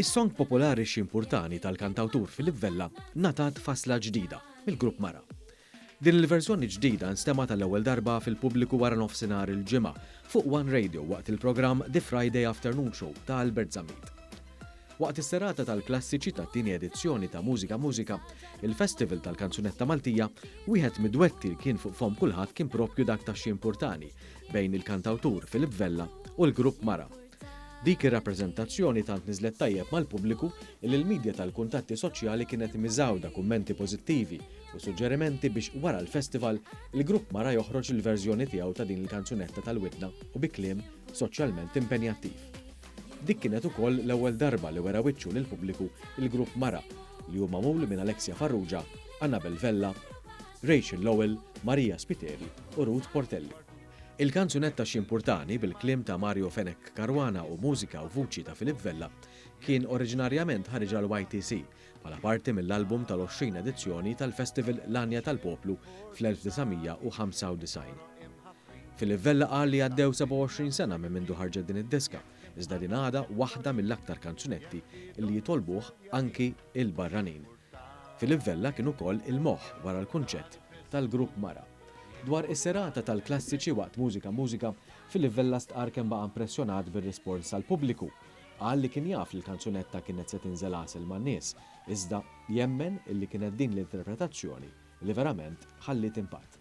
Is-song popolari ximpurtani tal-kantawtur Filip Vella natat fasla ġdida mill-grupp Mara. Din il-verżjoni ġdida nstema tal-ewwel darba fil-pubbliku wara nofsinhar il-ġimgħa fuq One Radio waqt il-programm The Friday Afternoon Show ta' Albert Zammit. Waqt is-serata tal-klassiċi tat-tieni edizzjoni ta' Mużika Mużika, il-Festival tal-Kanzunetta Maltija, wieħed mid-dwetti li kien fuq fomm kulħadd kien proprju dak ta' Xi Mpurtani bejn il-kantawtur Philip Vella u l-grupp Mara. Dik ir-rappreżentazzjoni tant niżlet tajjeb mal-pubbliku illi l-midja tal-kuntatti soċjali kienet miżgħuda kummenti pożittivi u suġġerimenti biex wara l-Festival il-grupp Mara joħroġ il-verżjoni tiegħu ta' din il-kanzunetta tal-widna u bi kliem soċjalment impenjattiv. Dik kienet ukoll l-ewwel darba li wera wiċċu lill-pubbliku l-grupp mara li hu magħmul minn Alexia Farrugia, Anabel Vella, Rachel Lowell, Maria Spiteri u Ruth Portelli. Il-kanzunetta X'Jimpurtani bil-kliem ta' Mario Fenech Caruana u mużika u vuċi ta' Philippe Vella kien oriġinarjament ħariġha l-YTC, bħala parti mill-album tal-20 edizzjoni tal-Festival L-Għanja tal-Poplu fl-1995. Philip Vella qal li għaddew 27 sena minn mindu ħarġet din id-diska, iżda din għadha waħda mill-aktar kanzunetti li jitolbuh anki l-barranin. Philip Vella kien ukoll il-moħħ wara l-kunċett tal-grupp Mara. Dwar is-serata tal-klassiċi waqt Mużika Mużika, Philip Vella stqarr kemm baqa' impressjonat bir-rispons tal-pubbliku Qal li kien jaf li l-kanzunetta kienet se tinżel għasel man-nies, iżda jemmen li kienet din l-interpretazzjoni li verament ħalliet impatt.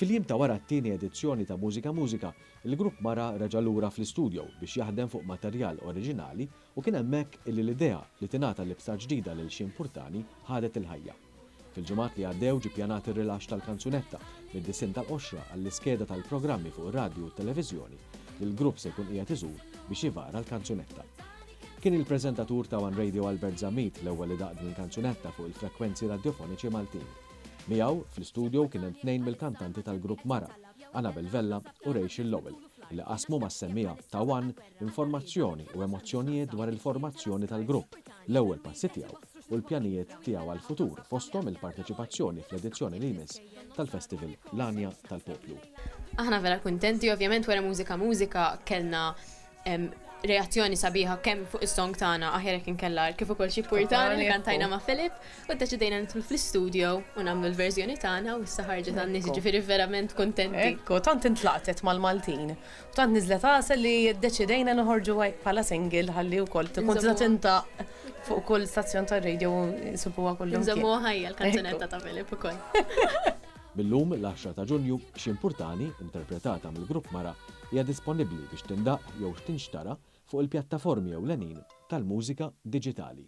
Fil-jiem ta' wara t-tieni edizzjoni ta' Mużika Mużika, il-grupp Mara reġa' lura fl-istudio biex jaħdem fuq materjal oriġinali u kien hemmhekk li l-idea li tingħata libsa ġdida lil Shane Purtani ħadet il-ħajja. Fil-ġimgħat li għaddew ġie ppjanat ir-rilaxx tal-kanzunetta mid-disinn tal-qoxra għall-iskeda tal-programmi fuq ir-radju u t-televiżjoni li l-grupp se jkun qiegħed iżur biex ivara l-kanzunetta. Kien il-preżentatur ta' one Radio Albert Zammit l-ewwel li daqq din il-kanzunetta fuq il-frekwenzi radjofoniċi Maltin. Miegħu, fl-istudjow kien hemm tnejn mill-kantanti tal-grupp Mara, Anabel Vella u Rachel Lowell, li qasmu mas-semmiegħa ta' one informazzjoni u emozzjonijiet dwar il-formazzjoni tal-grupp, l-ewwel passi tiegħu u l-pjanijiet tiegħu għall-futur fosthom il-parteċipazzjoni fl-edizzjoni li jmiss tal-festival L-Għanja tal-Poplu. Aħna vera kuntenti, ovvjament wara Mużika Mużika kellna reazzjoni sabiħa kemm fuq is-song tagħna aħjar jekk inkella kif ukoll xi purtani li kantajna ma' Filip u ddeċidejna nidħlu fl-istudio u nagħmlu l-verżjoni tagħna u issa ħarġet għan-nies ġifieri verament kuntenti. Ekku, tant intlaqtet mal-Maltin u tant niżlet għasel li ddeċidejna noħorġuha hekk bħala single ħalli wkoll tkun tista' tintgħaqq fuq kull stazzjon tar-radio u jsibuha kullimkien. Inżommuha ħajja l-kanzunetta ta' Filip ukoll. Mil-lum, l-10 ta' Ġunju, Xi Mpurtani, interpretata mill-grupp Mara, hija disponibbli biex tindaqq jew tinxtara fuq il-pjattaformi ewlenin tal-mużika diġitali.